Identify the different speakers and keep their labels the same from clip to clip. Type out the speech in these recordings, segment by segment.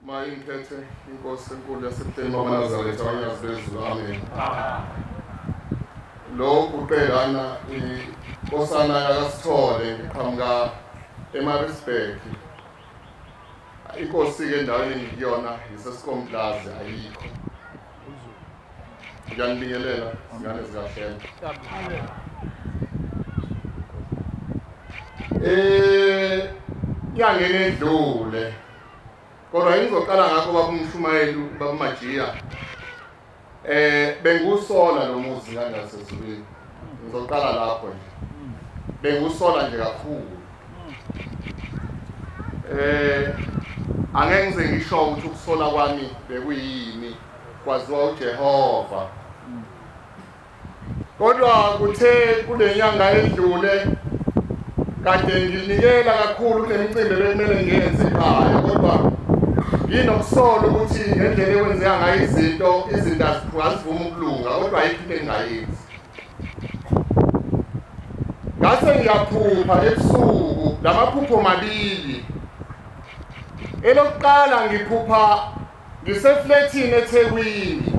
Speaker 1: Maye ngiphethe inkosi enkulu yasebuhleni bamanazaretha abanyazi bezulu amen lo guqelana inkosana yakasithole ngiqhamuka emarisburg inkosi-ke endaweni engikuyona yisesikomplazi ayikho ngiyanibingelela zingane zikahlelo um nyangeni edlule kodwa engizoqala ngakho babumshumayeli babumajiya eh bengusola lo muzi ngangasezulwini ngizoqala lapho nje bengusola nje kakhulu eh angeke ngize ngisho ukuthi ukusola kwami bekuyini kwaziwa uJehova Kodwa kuthe kunenyanga edlule kade nginikela kakhulu kunemicimbi bekumele ngiyenze ekhaya kodwa nginokusolo ukuthi ngendlela ekwenzeka ngayo izinto izinto azivumi ukulunga kodwa ayikho into engingayenzi ngase ngiyaphupha ebusuku lamaphupho mabili elokuqala ngiphupha Ngiseflethini eThekwini.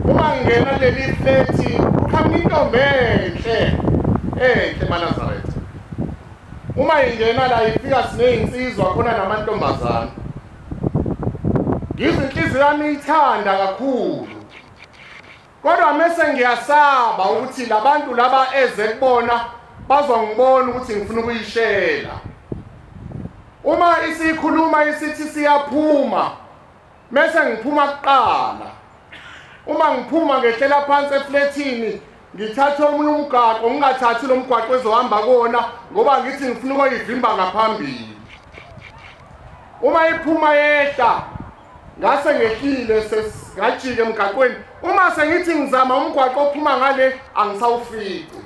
Speaker 1: Uma ngingena leli flethi kuqhamuka intombi enhle enhle maNazaretha. uma ingena la ifika sineyinsizwa khona namantombazana ngizinhliziyo yami ithanda kakhulu Kodwa mese ngiyasaba ukuthi labantu laba eze kubona bazongibona ukuthi ngifuna ukuyishela. Uma isikhuluma isithi siyaphuma mese ngiphuma kuqala. Uma ngiphuma ngehlela phansi eflethini ngithathe omunye umgaqo ngingathathi lo mgwaqo ezohamba kuwona ngoba ngithi ngifuna ukoyivimba ngaphambili uma iphuma yehla ngase ngehlile sesingajike emgaqweni uma sengithi ngizama umgwaqo ophuma ngale angisawufici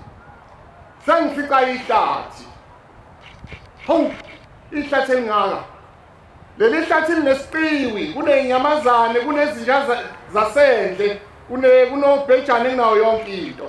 Speaker 1: sengifica ihlathi hawu ihlathi elingaka leli hlathi linesiqiwi kuney'nyamazane kunezinja zasendle kunobhejane kunawo yonke into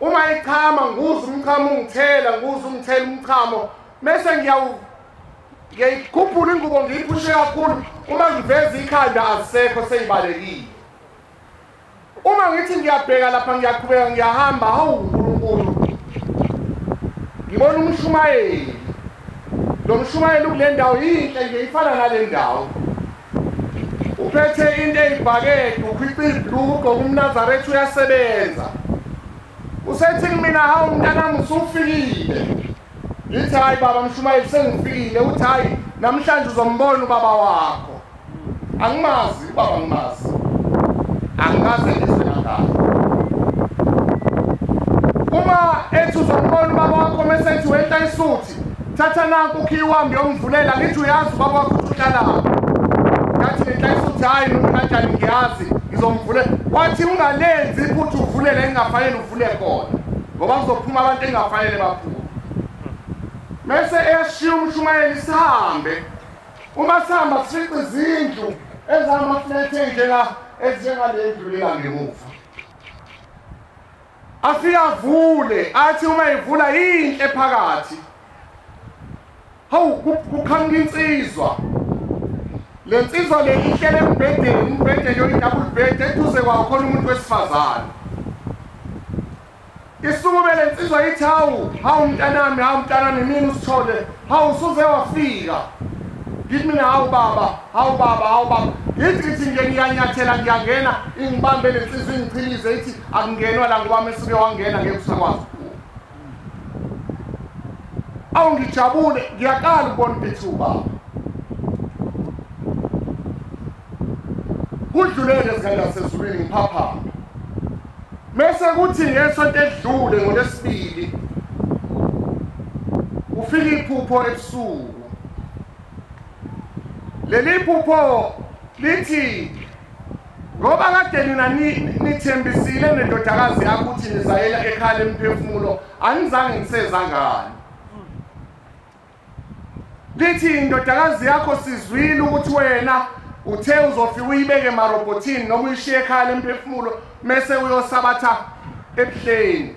Speaker 1: Uma ichama nguza umchamo ungithela nguza ungithela umchamo mese ngiyawu ngiyayikhuphula ingubo ngiyiphushe kakhulu uma ngiveza ikhanda azisekho seyibalekile uma ngithi ngiyabheka lapha ngiyaqhubeka ngiyahamba hawu uNkulunkulu ngibona umshumayeli lo mshumayeli kule ndawo yinhle nje ifana nale ndawo uphethe into eyibhakede ukhipha ibhluko umnazaretha uyasebenza usethi kumina hawu mntanami usufikile ngithi hhayi baba mshumayeli sengifikile uthi hhayi namhlanje uzombona ubaba wakho angimazi ubaba ngimazi angikaze ngizwe nangalo uma ethi uzombona ubaba wakho mesethi wenta isuthi thatha nanku ukhiyi wami yomvulela ngithi uyazi ubaba wakho uhlala ngathi ngenhlayisa ukuthi hhayi noma kanjani ngiyazi ngizomvulela wathi ungalenzi iphutha uvulele engingafanele uvule khona ngoba kuzophuma abantu engingafanele baphume mese eyashiya umshumayeli sihambe uma sihamba sifice izindlu ezamaflethe njenga ezinjengalendlu lengangemuva afike avule athi uma evula yinhle phakathi hawu kuqhamuka insizwa le nsizwa le ihlele embhedeni umbhedeni oyi-double bed eduze kwawo khona umuntu wesifazane isukume le nsizwa ithi hawu hawu mntanami hawu mntanami mina usithole hawu usuze wafika ngithi mina hawu baba hawu baba hawu baba ngithi ngithi nje ngiyanyathela ngiyangena ingibambe le nsizwa ingichilize ithi akungenwa la ngoba mesuke wangena ngeke usakwazi ukuphuma awu ngijabule ngiyaqala ukubona ukuthi ubaba kudlulele ezingangasezulwini ngiphaphama mese kuthi ngesonto edlule ngolesibili ufika iphupho ebusuku leli phupho lithi ngoba kade nina nithembisile nendodakazi yakho ukuthi nizayela ekhala emphefumulo anizange ngiseza ngani lithi indodakazi yakho sizwile ukuthi wena uthe uzofika uyibeke emarobhothini noma uyishiye ekhala emphefumulo mese uyosabatha ebuhleni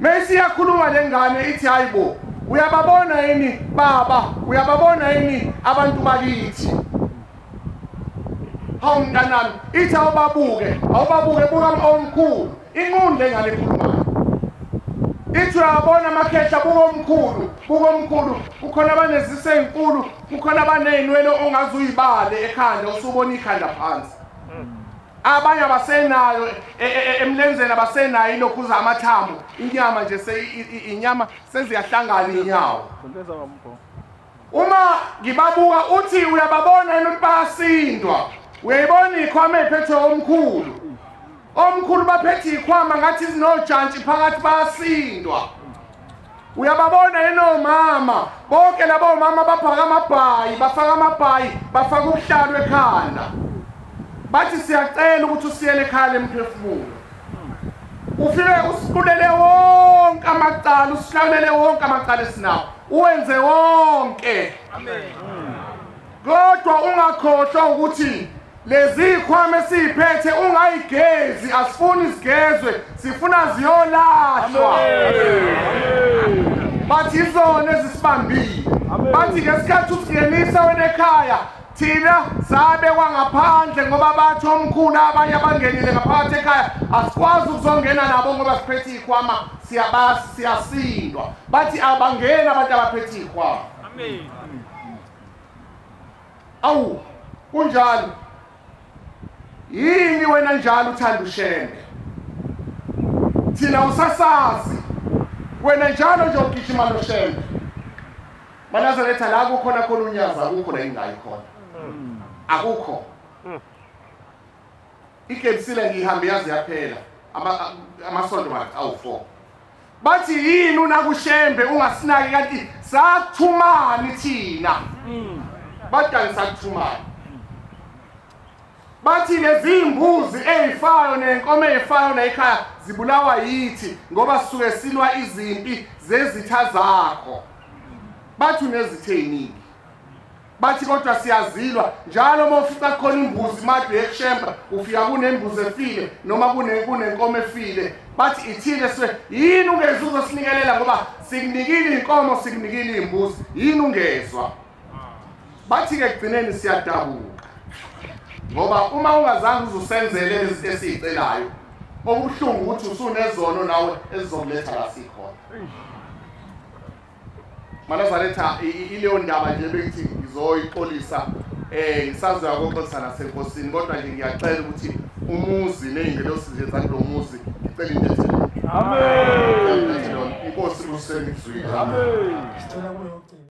Speaker 1: Mesi yakhuluma lengane ithi hayibo uyababona yini baba uyababona yini abantu bakithi hawu mntanami ithi awubabuke awubabuke buka omkhulu inqunde ngale khulumayo ithi uyabona amakhehla buka omkhulu buka omkhulu kukhona abanezise ezinkulu kukhona abanezinwele ongaze uyibale ekhanda usubona ikhanda phansi abanye abasenayo e, e, e, emlenzeni abasenayo ilokhuza amathambo inyama nje inyama seziyahlangana inyawo uma ngibabuka uthi uyababona yini ukuthi bayasindwa uyayibona ikhwama ephethwe omkhulu omkhulu baphethe ikhwama ngathi zinojantshi phakathi bayasindwa uyababona yini omama bonke laba omama baphaka amabhayi bafaka amabhayi bafaka ubuhlalu ekhanda bathi siyacela ukuthi usiyele ekhaya lemphefumulo ufike usiqulele wonke amacala usihlawulele wonke amacala esinawo uwenze wonke kodwa ungakhohlwa ukuthi Lezikhwama esiphethe ungayigezi asifuni sigezwe sifuna ziyolahlwa. Bathi izona ezisibambile. Bathi ngesikhathi usingenisa wena ekhaya thina sabe kwangaphandle ngoba bathi omkhulu abanye abangenile ngaphakathi ekhaya asikwazi ukuzongena nabo ngoba siphethe ikhwama siyabasi siyasindwa bathi abangeni abantu abaphethe ikhwama amen Awu, kunjalo. Yini wena njalo uthanda ushembe? Thina usasazi. Wena njalo nje ugijima noshembe. Banazaretha la kukhona khona unyaza akukho la ingayi khona. Hmm. Akukho. Hmm. Ikebisile ngihambe yazi yaphela. Ama amasonto awu 4. bathi yini unakushembe ungasinaki kanti sathumani thina hmm. badani sathumani bathi lezimbuzi ezifayo nenkomo ezifayo nayikhaya zibulawa yithi ngoba suke silwa izimpi zezitha zakho bathi unezithe yiningi bathi kodwa siyazilwa njalo uma ufica khona imbuzi madu yekushemba ufika kunembuzi efile noma kunenkomo efile bathi ithile swe yini ungezwa uzosinikelela ngoba sikunikile inkomo sikunikile imbuzi yini ungezwa bathi ke kugcineni siyadabuka ngoba uma ungazange uzusenzele izinto esizicelayo okubuhlungu ukuthi usunezono nawe ezizokuletha la sikhona Manazaretha ileyo ndaba nje bengithi ngizoyixolisa eh ngisazoya koxolisa nasenkosini kodwa nje ngiyacela ukuthi umuzi nezingelosi nje zakulo muzi ngicela into ethile amen inkosi kusengizwile amen sicela kuyo